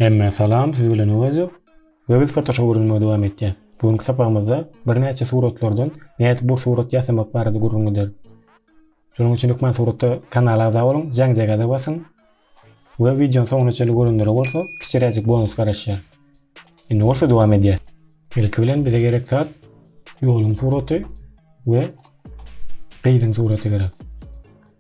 Hemmä salam siz bilen Öwezow we biz fotoshop öwrenmegi dowam etýäs. Bu günki sapagymyzda birnäçe suratlardan nädip bu surat ýasamak barada gürrüň gider. Şonuň üçin hökman suratda kanala agza boluň, jaňjagaza basyň we wideony soňuna çenli görenlere bolsa kiçiräjik bonus garaşýar. Indi bolsa dowam edýäs. Ilki bilen bize gerek zat ýoluň suraty we gyzyň suraty gerek.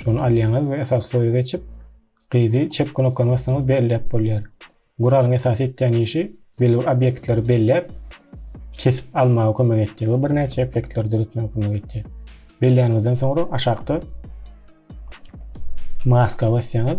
Şony alýaňyz we esas loýa geçip, gyzy çep knopkany bassaňyz belläp bolýar. Guralyň esasy etýän işi belli bir obýektleri belläp, kesip almaga kömek etýär we birnäçe effektleri döretmäge kömek etýär. Belläniňizden soňra aşakda maska basýaňyz.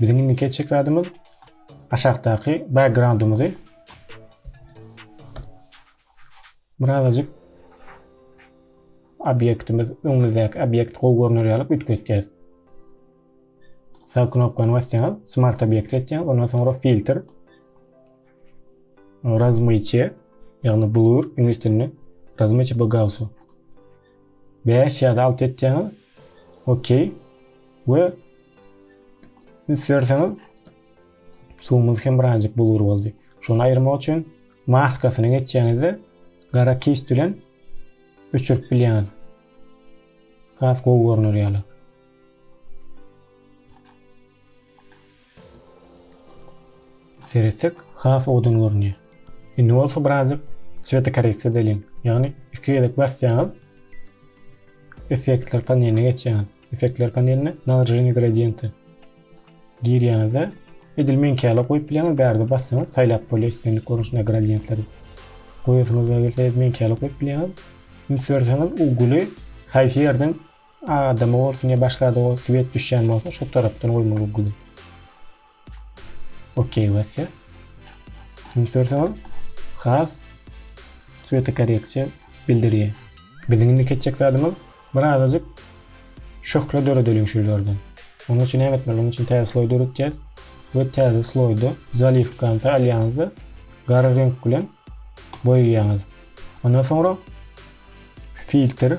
Biziň indiki etjek zadymyz aşakdaky backgroundymyzy birazajyk obýektimiz öňümizdäki obýekt gowy görner ýaly üýtgetýäs. Sag knopkany basýaňyz, smart obýekt etýäňiz, ondan soňra filtr razmyçe, ýagny blur, iňlis dilinde razmyçe bagausy. Bäş ýa-da alty etýäňiz. Okey. We üns berseňiz suwumyz hem birazjyk bulgur boldy. Şony aýyrmak üçin maskasyny geçýäňizde gara kist bilen öçürip bilýäňiz. Has gowy görner ýaly. Seretsek has owadan görünýär. Indi bolsa birazjyk swetokorreksiýa edeliň. Ýagny iki gezek basýaňyz effektler paneline geçýäňiz. Effektler paneline naложение gradiente girýäňizde edil meňkäle goýup bilýäňiz. Bärde bassaňyz saýlap bolýar islendik görnüşde gradientleri. Goýasyňyz gelse meňkäle goýup bilýäňiz. Üns berseňiz uguly haýsy ýerden Adamy bolsun ya başlady o swet düşýän bolsa şu tarapdan goýmaly uggly. Okey basýa. Şimdi görseňiz has sweti koreksiýa bildirýär. Biziň indi keçjek zadymyz bir azajyk şöhle döredeliň şu ýerden. Onuň üçin näme etmeli? Onuň üçin täze sloý döretýäs we täze sloýda zaliw gansa alýaňyzda gara reňk bilen boýaýaňyz. Ondan soňra filtr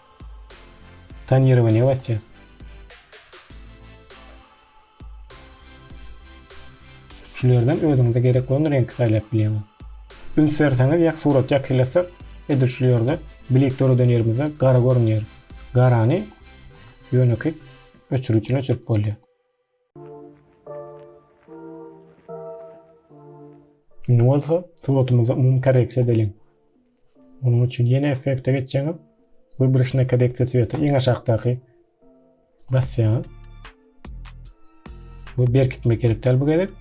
Tan ýerige ne basýas? Şulerden özüňize gerek bolan reňki saýlap bilýäňiz. Üns berseňiz ýa surat ýakylasak, edil şu ýerde blik döreden ýerimizde gara görünýär. Garany ýönekeý öçüriçini öçürip bolýar. Indi bolsa suratymyzy umumy korreksiýa edeliň. Onuň üçin ýene effekte geçýäňiz. Wybryşna korreksiýa sweta iň aşakdaky basýaňyz. Bu berkitmek gerek däl bu gezek.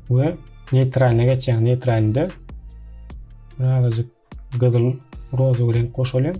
We neytraline geçýäňiz. Neytralinde birazajyk gyzyl rozowy renk goşalyň.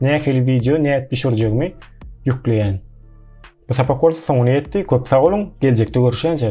nähili wideo nädip düşürjegimi ýükleýän. Bu sapak bolsa soňuna ýetdi. Köp sag boluň. Geljekde görüşýänçäk.